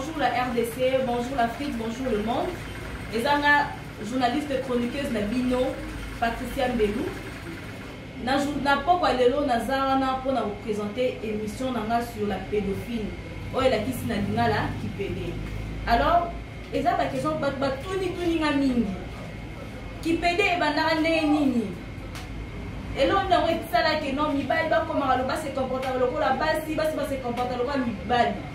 Bonjour la RDC, bonjour l'Afrique, bonjour le monde. Ezanga journaliste chroniqueuse na bino Patricia Mbelou. Na na pokwa lelo naza wana mpo na kopresente émission na nga sur la pédophile oyo elakisi na lingala kipede alors eza baquestion bato batunituni nga mingi kipede ebandaka ndenge nini elongi yango esalaki no mibali bakomaka lo base comportaka lokola basi basi base comporta lokola mibali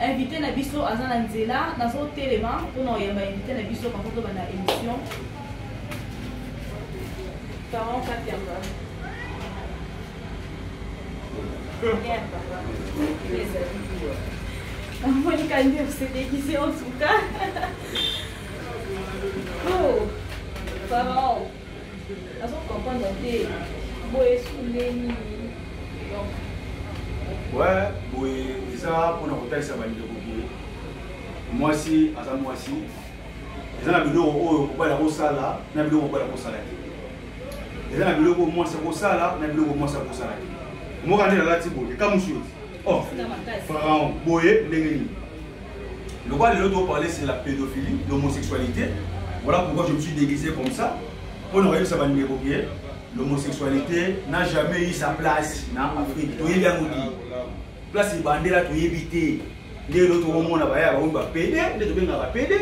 invité na biso aza na nzela nazotelema mpona oyamba invité na biso bango tobanda émission parent katiamba namoni kande osedekise en tout cas oh parent Nazo comprendre te. Boye sunde nini? Donc Ouais, boye eza pona kotalisa bandeko boye. Mwasi aza mwasi. Eza na biloko oyo kobala kosala na biloko kobala kosala te. Eza na biloko mwasi akosala na biloko mwasi akosala te. Moka nde alati boye kamusu yote. oh, pharaon boye ndenge nini lokola lelo toparle sur la pédophilie l'homosexualité voilà pourquoi je me suis déguisé comme ça mpo na koyebisa bandeko ke l'homosexualité n'a jamais eu sa place na afrique toyebi yango di place ebandela toyebi te nde elo tokomona baya baoyo bapede nde tobengaka pede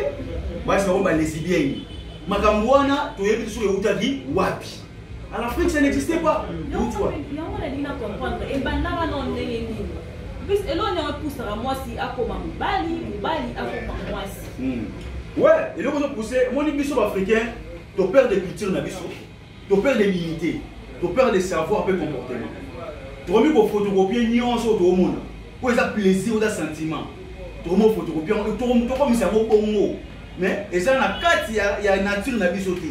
basi bango balesibieni makambo wana toyebi te soki eutaki wapi En Afrique, ça n'existait pas. Yango nalingi na comprendre ebanda wana o ndenge nini plus eloko nde epusaka mwasi akoma mobali mobali akoma mwasi hmm. we eloko ezopousse omoni biso baafricain toperde culture na biso toperde dignité toperde savoir mpe comportement tokomi kofotokopie nyonso oyo tokomona mpo eza plaisir oza sentiment tokomi kofotokopie yango tokomisa yango bongo mais eza na kati ya nature na biso te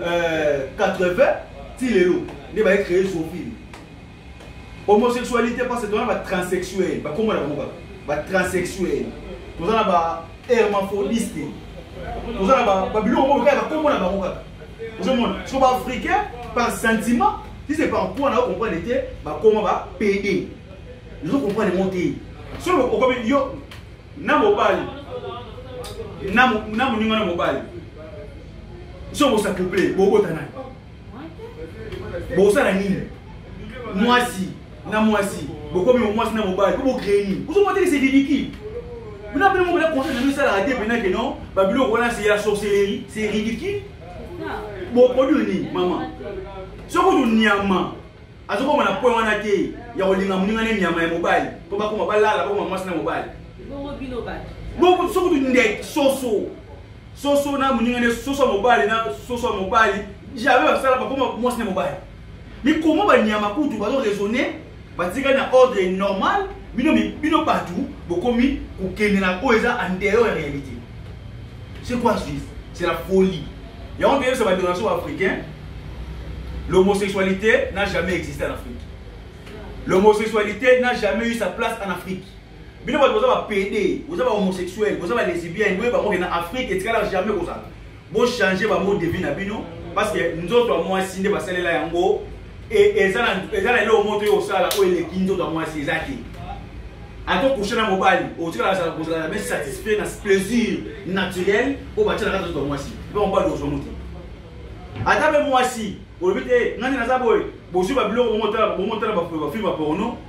euh, 80 ti lelo nde baye créé zoofile homosexualité parce que toza na batranssexuel bakoma na bango kaka batranssexuel toza na bahermaphrodiste toza na babiloko moko kaka bakoma na bango kaka ozomona so baafricain par sentiment si c'est par mpo na okomprendre te bakoma ba pede ezo comprendre yango te soki okomi yo na mobali na moninga na mobali soki bosa couple bobota nani bosala nini mwasi na mwasi bokomi mwasi na mobali mpo bocree nini ozomotelisa ridicule bina bino moko na conseil na bino esalaka te mpena ke non babiloko wana se ya sorcellerie se ridicule boproduire nini mama soki oto nyama azokoma na point wana te ya kolinga moninga ne nyama ya mobali mpo bakoma balala bakoma mwasi na mobali soki oto ndeke soso soso na moninga ne soso ya mobali na soso ya mobali jamais basala bakoma mwasi na mobali mikoma banyama kutu bazo raisonne batikali na ordre normal bino bino bato bokomi kokende na oyo eza en dehors ya réalité c'est quoi ce c'est la folie yango toyebisa badonation africain l'homosexualité n'a jamais existé en afrique l'homosexualité n'a jamais eu sa place en afrique bino bato boza bapede boza bahomosexuel boza balesibien boye bango kena afrique etikala jamais kozala bochange bamo de vie na bino parce que nzoto ya mwasi nde basalela yango e, eza na eloko moto oyo osala oyo eleki nzoto ya mwasi eza te ata okushe na mobali otikala kozala me satisfait na plaisir naturel oyo batya na kati nzoto ya mwasi mpe mobali ozwa moto ata mpe mwasi olobi te nani naza boye bozwi babiloko bomotala bafilme ya porno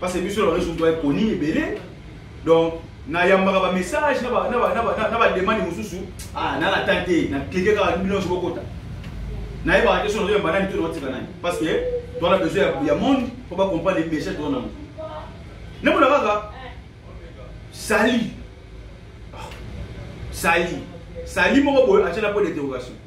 parce que biso na bango surtout ekoni ebele donc nayambaka bamessage na bademande mosusu ah, na natan te na klike kaka bino nyonso bokota nayebaka te so nazoyamba nani to naotika nani parce que toana besoin ya monde mpo bacomprendre message toza nango namona kaka sali ah, sali sali moko boye atyela mpo d'interrogation